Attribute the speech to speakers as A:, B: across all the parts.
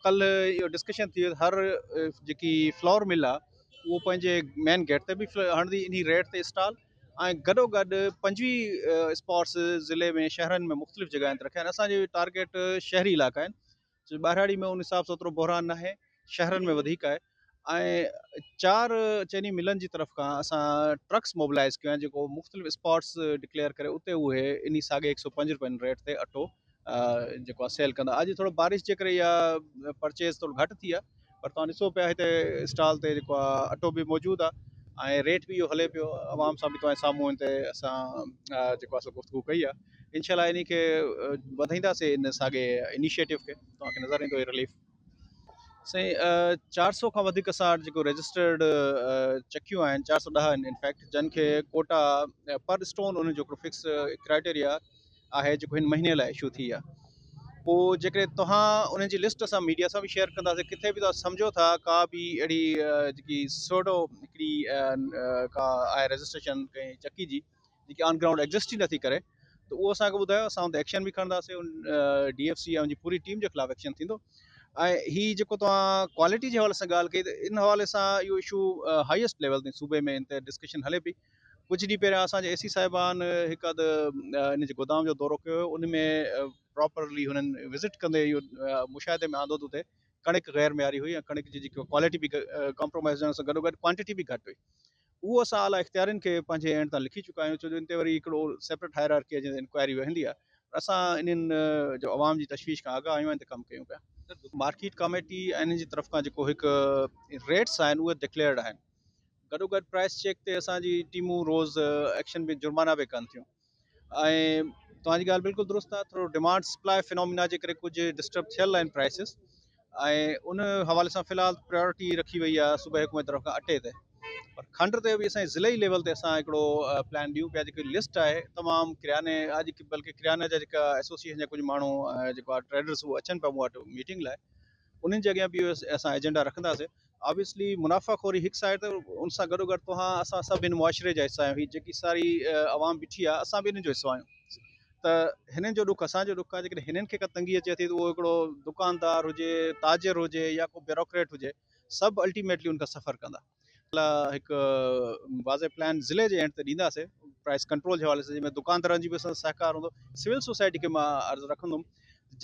A: ڪلھ اھو ڊسڪشن ٿي ويو ھر جيڪي فلور مل آ اھو پنھنجي مين گيٽ تي به ھڻندي انھي ريٽ تي اسٽال ۽ گڏو گڏ پنجويھ اسپاٽس ضلعي ۾ شھرن ۾ مختلف جڳاھين تي رکيا آھن اسان جي ٽارگيٽ شھري علاقا آھن ٻاھراڙي ۾ ان حساب سان ايترو بحران ناھي شھرن ۾ وڌيڪ آھي ۽ چار چئني ملن جي طرف کان اسان ٽرڪس موبلائيز ڪيون آهن جيڪو مختلف اسپاٽس ڊڪليئر ڪري اتي اهي انهي ساڳي هڪ سؤ پنج رپين ريٽ تي اٽو جيڪو آهي سيل ڪندا اڄ ٿورو بارش جي ڪري يا پرچيز ٿورو گهٽ ٿي آهي پر توهان ڏسو پيا هتي اسٽال تي جيڪو آهي اٽو به موجود آهي ۽ ريٽ به اهو هلي پيو عوام سان به توهان سامهون هتي اسان جيڪو آهي سو گفتگو ڪئي آهي انشاء الله انهي کي وڌائينداسي ان ساڳي انيشيٽو کي توهان کي نظر ايندو هي رليف سائين چار سئو کان وڌيڪ اسان وٽ جيڪو رجسٽرڊ چڪيون آهن چار سئو ڏهه آهن انفيڪٽ جن کي ڪوٽا پر اسٽون ان جو هڪڙو فڪس ڪرائيٽيريا آهي جيڪو هن مهيني لاء ايشو ٿي آهي پوء جيڪڏهن توهان انهن جي لسٽ اسان ميڊيا سان به شيئر ڪنداسين ڪٿي به توهان سمجھو ٿا ڪا به اهڙي جيڪي سوڊو هڪڙي ڪا آهي رجسٽريشن ڪنهن چڪي جي جيڪي آن گرائونڊ ايگزسٽ ئي نٿي ڪري ته اهو اسان کي ٻڌايو اسان ان تي ايڪشن به کڻنداسين ان ڊي ايف سي ۽ ان جي پوري ٽيم جي خلاف ايڪشن ٿيندو ۽ هي جيڪو توهان ڪوالٽي جي حوالي سان ڳالهه ڪئي ته ان حوالي سان اهو اشو هائيسٽ ليول تائين صوبي ۾ ان تي ڊسڪشن هلي پئي ڪجهه ڏينهن پهريان اسان جي اي سي صاحبان هڪ اڌ ان جي گودام جو دورو ڪيو هيو ان ۾ پراپرلي هنن وزٽ ڪندي اهو مشاهدي ۾ آندو ته اتي ڪڻڪ غير معياري هئي ۽ ڪڻڪ جي جيڪي ڪوالٽي به ڪمپرومائز هجڻ سان گڏوگڏ ڪوانٽٽي به گهٽ هئي اهو اسان اعليٰ اختيارين کي پنهنجي اينڊ تان لکي چڪا آهيون ڇو جو ان تي وري هڪڙو سيپريٽ هائرارڪي آهي جنهن تي انڪوائري ويهندي آهي پر اسان انهن جو عوام جي تشويش کان آگاهه آهيون ۽ ان تي ڪم ڪيون پيا. مارڪيٽ ڪاميٽي ۽ انهن جي طرف کان جيڪو هڪ ريٽس آهن اهي ڊڪليئرڊ آهن گڏوگڏ پرائس چيڪ تي اسان جي ٽيمون روز ايڪشن ۾ جرمانا به ڪن ٿيون. ۽ توهان جي ڳالهه بلڪل درست آهي ٿورو ڊيمانڊ سپلاء فنومينا جي ڪري ڪجهه ڊسٽرب ٿيل آهن پرائسز ۽ ان حوالي سان في الحال پريورٽي رکي وئي آهي صوبائي حڪومت طرف کان اٽي تي پر کنڊ تي به اسان ضلعي ليول تي اسان هڪڙو پلان ڏيون پيا جيڪي لسٽ آهي تمام ڪرياني اڄ بلڪه ڪرياني جا جيڪا ايسوسيئيشن جا ڪجهه ماڻهو جيڪو ٽريڊرز هو اچن پيا مون وٽ ميٽنگ لاء انهن جي اڳيان به اسان ايجنڊا رکنداسين Obviously منافع خوري هڪ سائيڊ ته ان سان گڏو گڏ توهان اسان سڀ هن معاشري جا حصا آهيون هي جيڪي ساري عوام بيٺي آهي اسان به انهن جو حصو آهيون ته هنن جو ڏک اسان جو ڏک آهي جيڪڏهن هنن کي ڪا تنگي اچي ٿي ته اهو هڪڙو دڪاندار هجي تاجر هجي يا ڪو بيوروڪريٽ هجي سڀ الٽيميٽلي ان کان سفر ڪندا هڪ واضح پلان ضلع جي اينڊ تي ڏينداسي پرائس ڪنٽرول جي حوالي سان جنهن ۾ دڪاندارن جي به اسان سهڪار هوندو سول سوسائٽي کي مان عرض رکندم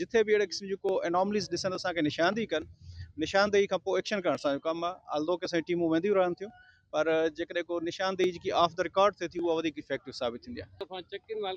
A: جتي به اهڙي قسم جون ڪو Anomalies ڏسن ته اسان کي نشاندهي ڪن، نشاندهي کان پوء ايڪشن ڪرڻ اسان جو ڪم آهي، Although ڪي ساريون ٽيمون وينديون رهن ٿيون پر جيڪڏهن ڪو نشاندهي جيڪي آف دي رڪارڊ ٿئي ٿي اها وڌيڪ Effective ثابت ٿيندي آهي.